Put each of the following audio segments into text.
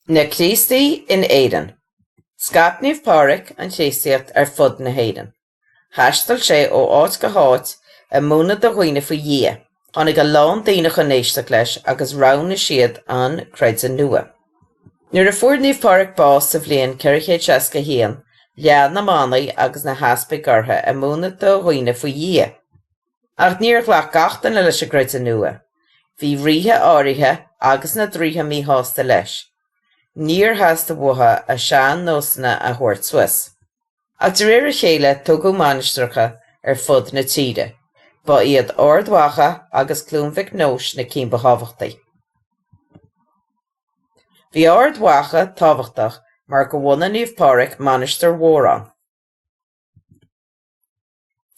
Na Críostaí in Éirinn. Scaip Naomh Pádraig an Chríostaíocht ar fud na hÉireann. Thaisteal sé ó áit go háit ag múineadh do dhaoine faoi Dhia. Tháinig a lán daoine chun éisteacht leis agus roghnaigh siad an creideamh nua. Nuair a fuair Naomh Pádraig bás sa bhliain 461, lean na manaigh agus na heaspaig orthu ag múineadh do dhaoine faoi Dhia. Ach níor ghlac gach duine leis an gcreideamh nua. Bhí ríthe áirithe agus na draoithe míshásta leis. Níor theastaigh uathu a sean-nósanna a thabhairt suas. Ach de réir a chéile tógadh mainistreacha ar fud na tíre. Ba iad Ard Mhacha agus Cluain Mhic Nóis na cinn ba thábhachtaí. Bhí Ard Mhacha tábhachtach mar go bhunaigh Naomh Pádraig mainistir mhór ann.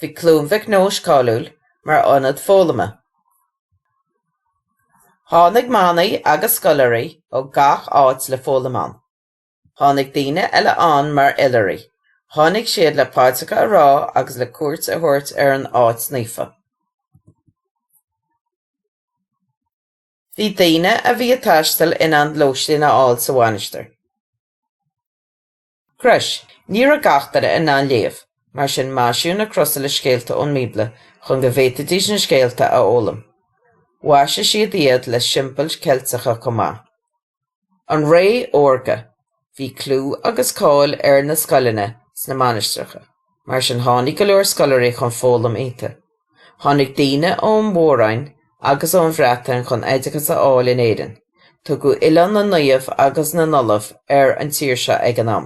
Bhí Cluain Mhic Nóis cáiliúil mar ionad foghlama. Tháinig manaigh agus scoláirí ó gach áit le foghlaim ann. Tháinig daoine eile ann mar oilithrigh, tháinig siad le paidreacha a rá agus le cuairt a thabhairt ar an áit naofa. Bhí daoine a bhí ag taisteal in ann lóistín a fháil sa mhainistir. Chríost. Ní raibh gach duine in ann léamh, mar sin maisíodh na crosa le scéalta ón mBíobla chun go bhféadfaidís na scéalta a fhoghlaim. Mhaisigh siad iad le siombail Cheilteacha chomh maith. An Ré Órga. Bhí clú agus cáil ar na scoileanna sna mainistreacha, mar sin tháinig go leor scoláirí chun foghlaim iontu. Tháinig daoine ón Mhór-Roinn agus ón Bhreatain chun oideachas a fháil in Éirinn. Tugadh Oileán na Naomh agus na nOllamh ar an tír seo ag an am.